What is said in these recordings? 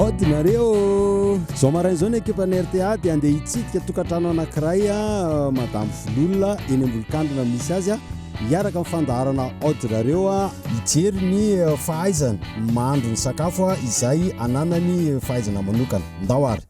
Odinareo Zao maraina izao ny ekipan'ny RTA dia andeha hitsidika tokantrano anankiray ah, Madame Vololona eny Ambolokandrina misy azy ah. hiaraka amin'ny fandaharana Odinareo ah, hijery ny eh, fahaizany mandro ny sakafo ah, izay ananany fahaizana manokana. Ndao ary.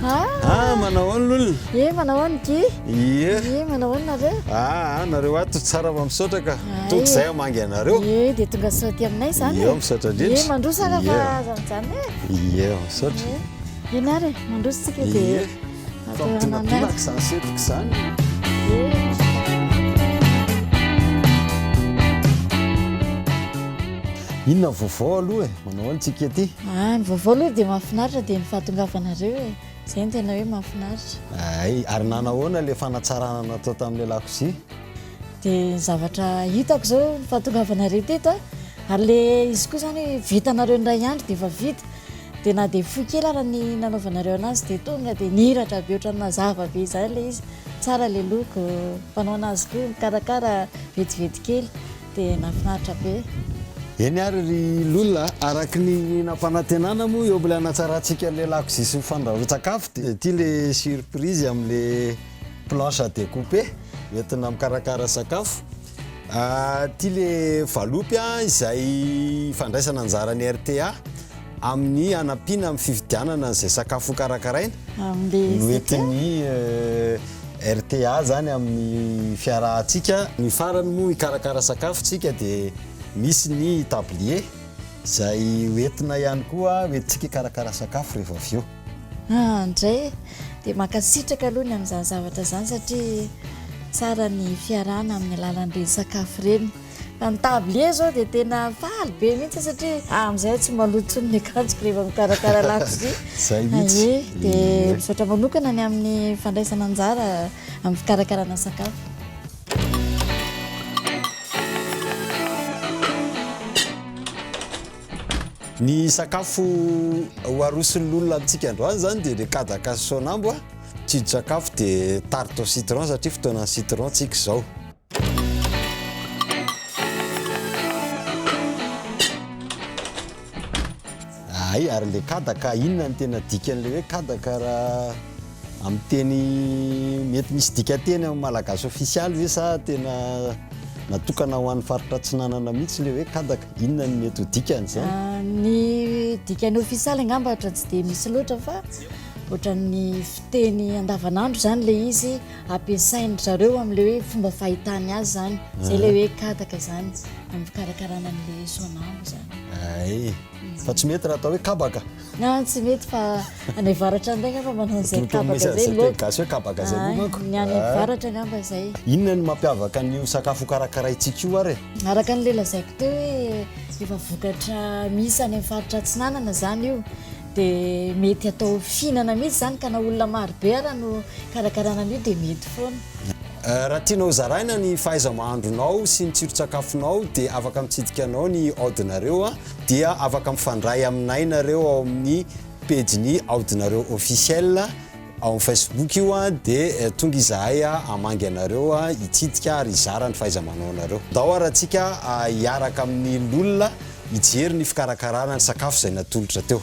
Ah, manahoana lolona? Ye, manahoana Guy? Ye. Ye, manahoana nareo? Ah, nareo ato tsara fa misaotra ka. Tonga izay hamangy anareo. Ye, dia tonga sao aty aminay izany. Ye, misaotra indrindra. Ye, mandroso ara fa aza mijanona e. Ye, misaotra. Ianareo, mandroso tsika dia. Fampidinadinako izany setroka izany. Inona ny vaovao aloha e? Manao ahoana tsika ety? Ah, ny vaovao aloha dia mahafinaritra dia ny fahatongavanareo e. Izay no tena hoe mahafinaritra. Ay, ary nanahoana ilay fanatsarana natao tamin'ilay lakozia? Dia ny zavatra hitako izao ny fahatongavanareo teto a, ary ilay izy koa izany vitanareo indray andro dia efa vita. dia na dia fohy kely ary ny nanaovanareo anazy dia tonga dia niratra be ohatran'ny mazava be izany ilay izy tsara ilay loko mpanao anazy koa mikarakara vetivety kely dia nafinaritra be eny ary ry lona araky ny nampanantenana moa eo ilay hanatsarantsika ilay lakozia sy ny fandrahoan-tsakafo dia ity ilay surprise amin'ilay planche à découper entina mikarakara sakafo Ity le valopy an, izay fandraisana anjaran'ny RTA amin'ny hanampiana amin'ny fividianana an'izay sakafo hokarakaraina, no entin'ny RTA izany amin'ny fiarahantsika. Ny farany moa hikarakara sakafo isika dia misy ny tablier izay ho entina ihany koa, ho entintsika hikarakara sakafo rehefa avy eo. Ah ndray e! Dia mankasitraka aloha ny amin'izany zavatra izany satria tsara ny fiarahana amin'ny alalan'ireny sakafo ireny. Fa ny tablier izao dia tena faly be mihitsy satria ah amin'izay tsy maloto intsony ny akanjoko rehefa mikarakara lakozia. Izay mihitsy. Aie, dia misaotra manokana ny amin'ny fandraisana anjara amin'ny fikarakarana sakafo. Ny sakafo ho aroson'ny lolona amintsika androany zany dia le kadaka sy sonambo, tsindrin-tsakafo dia tarte au citron satria fotoanan'ny citron tsika izao. Hay, ary le kadaka inona no tena dikan'ilay hoe kadaka raha. Amin'ny teny mety misy dikanteny amin'ny malagasy ofisialy ve sa tena natokana ho an'ny faritra Atsinanana mihitsy ilay hoe kadaka? Inona no mety ho dikany izany? Ny dikany ofisialy angamba ohatra tsy dia misy loatra fa ohatran'ny fiteny andavanandro izany ilay izy ampiasain-dry zareo amin'ilay hoe fomba fahitany azy izany. Izay ilay hoe kadaka izany amin'ny fikarakarana an'ilay soanambo izany. Hay. Fa tsy mety raha atao hoe kabaka. Na tsy mety fa any avaratra indray ngamba manao an'izay kabaka izay loatra. Teny gasy hoe kabaka izay moa manko. Ny any avaratra ngamba izay. Inona no mampiavaka an'io sakafo hokarakaraintsika io ary e? Araka an'ilay lazaiko teo hoe efa vokatra misy any amin'ny faritra atsinanana izany io dia mety atao fihinana mihitsy izany ka na olona marobe ara no karakaraina an'io dia mety foana. Raha tianao hozaraina ny fahaiza-mahandronao sy ny tsiron-tsakafonao dia afaka mitsidika anao ny audinareo a! dia afaka mifandray aminay nareo ao amin'ny pejy ny aodinareo officiel ao amin'ny Facebook io a de eh, tonga izahay a hamangy anareo a hitsidika ary hizara ny fahaiza-manaonareo dao ary antsika hiaraka amin'ny lolona hijery ny fikarakarana ny sakafo izay natolotra teo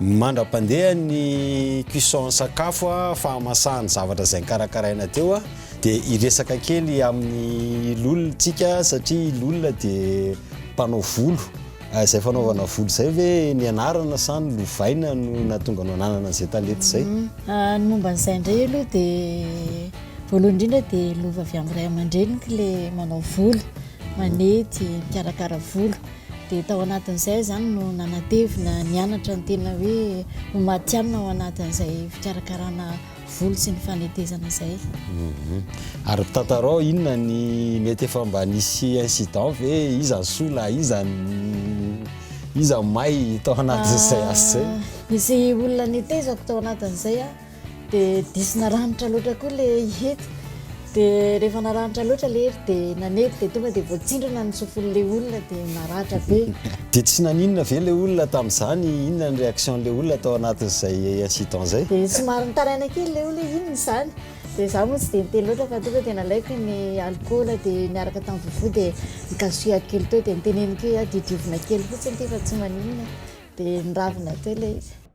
Mandra-pandeha ny cuisson sakafo fahamasahany zavatra izay nikarakaraina teo dia hiresaka kely amin'ny lol tsika satria lol dia mpanao volo izay fanaovana volo izay ve nianarana sa ny lovaina no nahatonga anao nanana izay talenta izay? Ny momba an'izay indray aloha dia voalohany indrindra dia lova avy amin'ny ray aman-dreniko ilay manao volo manety, mikarakara volo. Dia tao anatin'izay izany no nanatevina nianatra ny tena hoe ho matihanina ao anatin'izay fikarakarana volo sy ny fanetezana izay. Mhm. Ary tantarao inona ny mety efa mba nisy incident ve iza ny soa na iza iza may tao anatin'izay ah, asa izay? Nisy olona netezako tao anatin'izay a. Ah. dia diso naranitra loatra koa ilay hety dia rehefa naranitra loatra ilay hety dia nanety dia tonga dia voatsindrona ny sofin'ilay olona dia naratra be dia tsy naninona ve ilay olona tamin'izany inona ny réaction'ilay olona tao anatin'izay incident izay dia somary nitaraina kely ilay olona hoe inona izany dia izaho moa tsy dia niteny loatra fa tonga dia nalaiko ny alcool dia niaraka tamin'ny vovo dia nikasohako kely teo dia niteneniko hoe aho diodiovina kely fotsiny ity fa tsy maninona dia niravina teo ilay izy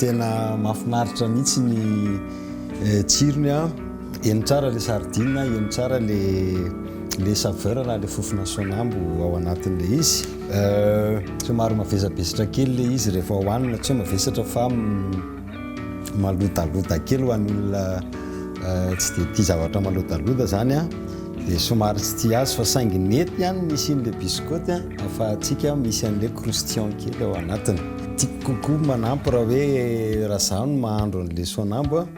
Tena mafinaritra mihitsy ny tsirony a. Eny tsara ilay sardine a, eny tsara ilay saveur na ilay fofona sonambo ao anatin'ilay izy. Somary mavesabesatra kely ilay izy rehefa hohanina, tsy hoe mavesatra fa malodaloda kely ho an'ny olona tsy dia tia zavatra malodaloda izany a. Dia somary tsy tia azy fa saingy nety ihany ny isian'ilay biscotte an! Afahantsika misy an'ilay croustillant kely ao anatiny. Tiako kokoa manampy raha hoe raha izaho no mahandro an'ilay sonambo an!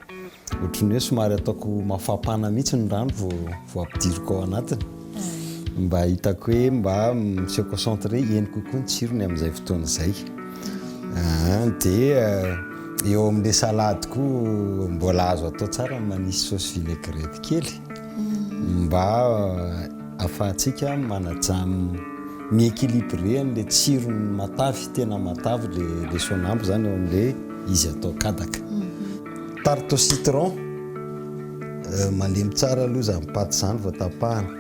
Ohatry ny hoe somary ataoko mafampana mihitsy ny rano vao vao ampidiriko ao anatiny mba hitako hoe mba mi-se concentrer heno kokoa ny tsirony amin'izay fotoana izay. Aa! Dia eo amin'ilay salade koa mbola azo atao tsara ny manisy sauce vinaigrette kely. mba afahantsika manaja mi-equilibré an'ilay tsirony matavy, tena matavy ilay sonambo izany ao amin'ilay izy atao kadaka. Tarte au citron, malemy tsara aloha izany paty izany vao tapahana.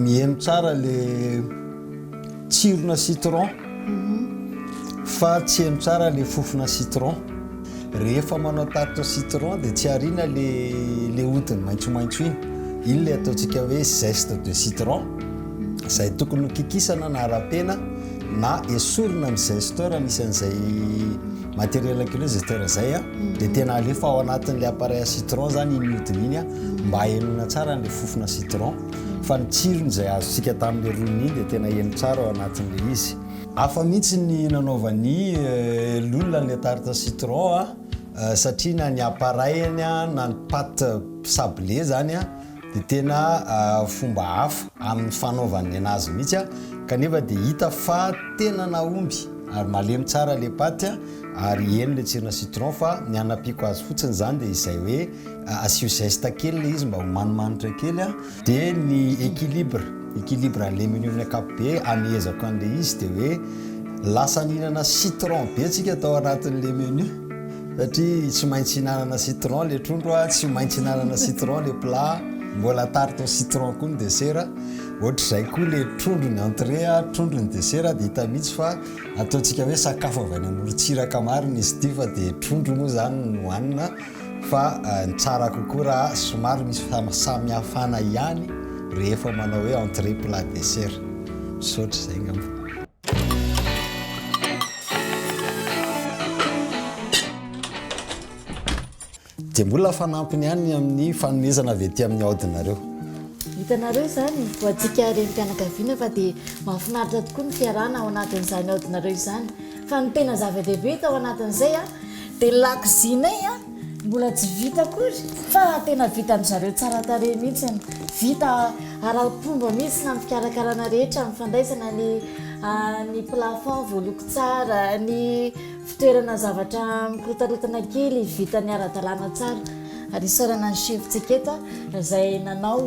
Miheno tsara ilay. Tsirona citron fa tsy heno tsara le fofona citron. Rehefa manao tarte citron dia tsy ariana le le hodiny maitsomaitso iny. Iny le ataontsika hoe zeste de citron. Izay tokony ho kikisana na rapena na esorina ny zesteur misy an'izay matériel ankileo zesteur zay a. Dia tena alefa ao anatin'ilay appareil à citron izany iny hodiny iny mba hahenoina tsara an'ilay fofona citron. fa ny tsirony izay azontsika tamin'ilay roniny iny dia tena heno tsara ao anatin'ilay izy. Hafa mihitsy ny nanaovan'i Lola an'ilay tarte citron satria na ny appareil-ny na ny pâte sablée izany dia tena fomba hafa amin'ny fanaovany an'azy mihitsy kanefa dia hita fa tena nahomby ary malemy tsara ilay pâte ary heno ilay tsirona citron fa ny hanampiako azy fotsiny izany dia izay hoe Asio zeste kely ilay izy mba ho manimanitra kely a. Dia ny équilibre, équilibre alemino amin'ny ankapobe, amehezako an'ilay izy dia hoe lasa nihinana citron be tsika tao anatin'ilay menu satria tsy maintsy hihinanana citron ilay trondro a, tsy maintsy hihinanana citron ilay plat, mbola tarte au citron koa ny dessert, ohatr'izay koa ilay trondro ny entrée a, trondro ny dessert dia hita mihitsy fa ataontsika hoe sakafo avy any amorontsiraka marina izy ity fa dia trondro moa izany no hohanina. Fa ny tsara kokoa raha somary misy fahasamihafana ihany rehefa manao hoe entrée plat dessert. Misaotra izay angamba. Dia mbola fanampiny ihany ny amin'ny fanomezana avy aty amin'ny aodinareo. Hitanareo izany, ho antsika renim-pianakaviana fa dia mahafinaritra tokoa ny fiarahana ao anatin'izany aodinareo izany. Fa ny tena zava-dehibe tao anatin'izay, Dia ny lakozianay an, mbola tsy vita akory fa tena vitan-dry zareo tsara tarehy mihitsy. Vita ara-pomba mihitsy na ny fikarakarana rehetra, ny fandraisana ny ny plafond voaloko tsara, ny fitoerana zavatra mikorotaraotana kely vita niara-dalàna tsara. Ary isaorana ny chef-tsika eto izay nanao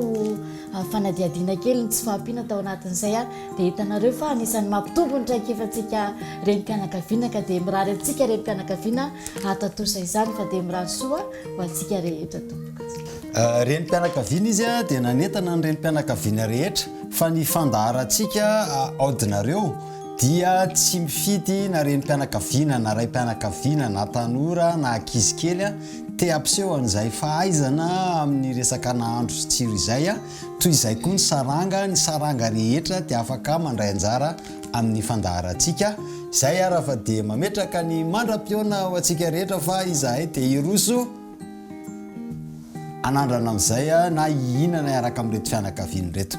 fanadihadiana kely ny tsy fahampiana tao anatin'izay. Dia hitanareo fa anisan'ny mampitombo ny traikefantsika renim-pianakaviana ka dia mirary antsika renim-pianakaviana hahatantosa izany fa dia mirary soa ho antsika rehetra tompoko. Renim-pianakaviana izy dia nanentana ny renim-pianakaviana rehetra fa ny fandaharantsika aodinareo dia tsy mifidy na renim-pianakaviana na raim-pianakaviana na tanora na ankizy kely te hampiseho an'izay fahaizana amin'ny resaka nahandro sy tsiro izay. Toy izay koa ny saranga, ny saranga rehetra dia afaka mandray anjara amin'ny fandaharantsika, izay ary fa dia mametraka ny mandra-pihaona ho antsika rehetra fa izahay dia hiroso hanandrana amin'izay na hihinana hiaraka amin'ireto fianakaviana ireto.